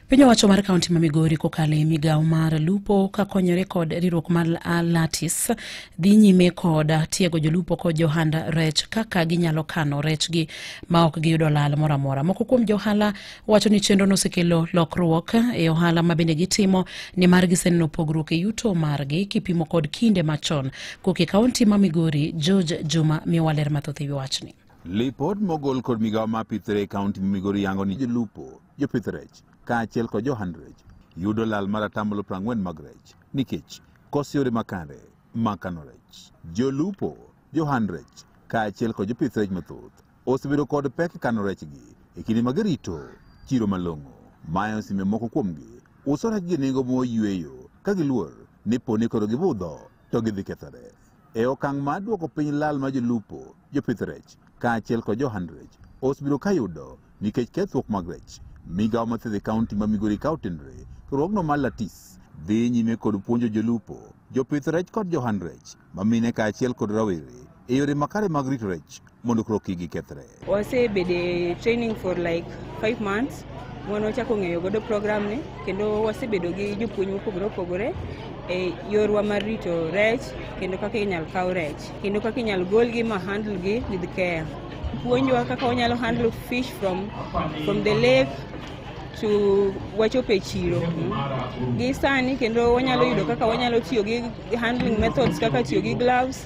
Piny owacho mar kaunti ma Migori kokalo e migawo mar lupo kakonyore kod riwruok mar Alatis dhi nyime kod tiego jolupo kod johand rech kaka ginyalo kano rechgi ma ok giyudo lal moro amora. Moko kuom johala wacho ni chenro nosekelo lokruok e ohala ma bende gitimo nimar giseneno pogruok e yuto margi kipimo kod kinde machon. Koke kaunti ma Migori, George Juma miwaler mathoth e wi wachni. Lipod mogol kod migawo ma pith rech e kaunti ma Migori yango ni jolupo, jopith rech, kaachiel kod johand rech yudo lal mar atamalo 40 mag rech nikech koso yore makare mag kano rech. Jolupo, johand rech, kaachiel kod jopith rech mathoth osebedo kod pek e kano rechgi e kinde ma girito chiro malong'o. Mae osemiyo moko kuomgi uso rechgi e nengo moyueyo ka giluor ni po ni koro gibudho to gidhi kethore. E okang' mar duoko piny lal ma jolupo, jopith rech, kaachiel kod johand rech osebedo ka yudo nikech kethruok mag rech, migawo ma thiedho e kaunti ma Migori ka otenore, riwruogno mar Latis dhi nyime kod puonjo jolupo, jopith rech kod johand rech ma mine kaachiel kod rawere e yore makare mag rito rech. mondo koro kik gikethre. Wasebedo e training for like five months mwana wachako ng'eyo godo program ni kendo wasebedo gi jopuonj mopogore opogore e yorwa mar rito rech kendo kaka inyal kaw rech kendo kaka inyal golgi ma handle gi with care puonjwa kaka wanyalo handle fish from, from the lake to wachopo e chiro gi sani kendo wanyalo yudo kaka wanyalo tiyo gi handling methods kaka tiyo gi gloves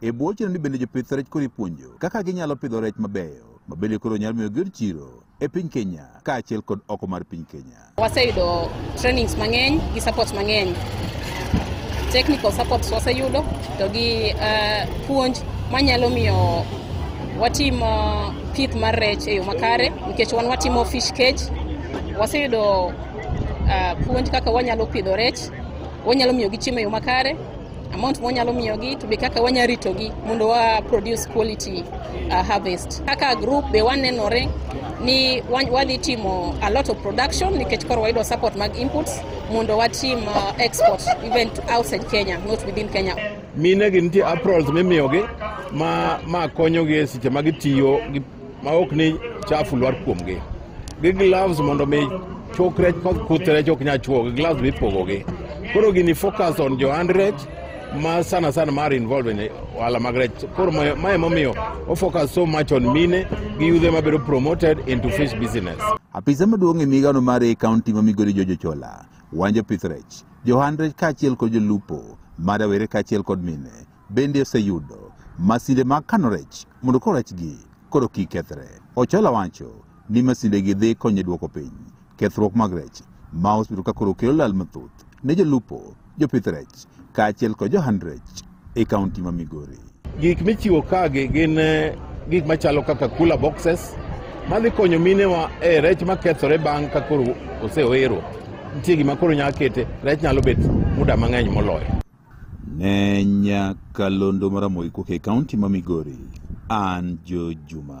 E bwo chenoni bende jopith rech koro ipuonjo kaka ginyalo pidho rech mabeyo ma bende koro nyalo miyo giyud chiro e piny Kenya kaachiel kod oko mar piny Kenya. Waseyudo trainings mang'eny gi support mang'eny. Technical support waseyudo to gi uh, puonj manyalo miyo watim uh, pith mar rech e yo makare nikech wan watimo fish cage. Waseyudo uh, puonj kaka wanyalo pidho rech, wanyalo miyo gi chiemo e yo makare amount mwanyalo miyogi to be kaka wanya ritogi mondo wa produce quality uh, harvest kaka group be wanenore ni wan- wadhi timo a lot of production nikech koro wayudo support mag inputs mondo watim uh, export even to outside kenya not within kenya mine gi nitie aprils mimiyogi ma, ma konyogi e seche ma gitiyo gi ma ok ni chafu lwar kuomgi gi gloves mondo mi chok rech kod kuth rech ok nyal chuo gi gloves mipogogi koro gini focus on johand rech ma sana sana mar involve in ohala mag rech koro ma- ma emomiyo ofocus so much on mine gi yudhe mabedo promoted into fish business Apisa maduong' e migano mar e kaunti ma migori Jojo Chola, wanjo pith rech, johand rech kaachiel kod jolupo, ma rawere kaachiel kod mine, bende oseyudo masinde mag kano rech mondo koro rechgi koro kik kethre. Ochola wacho ni masindegi dhi konyo e dwoko piny kethruok mag rech ma osebedo ka koro kelo lal mathoth ne jolupo, jopith rech kaachiel kod johand rech e kaunti ma Migori. Gik michiwo kagi gin eh, gik machalo kaka cooler boxes madhi konyo minewa e eh, rech makethore bang' ka koro oseoero. Nitie gima koro nyalo kete rech nyalo bet muda mang'eny moloyo. Ne nyaka londo maramogi kuke kaunti ma Migori, an Jo Juma.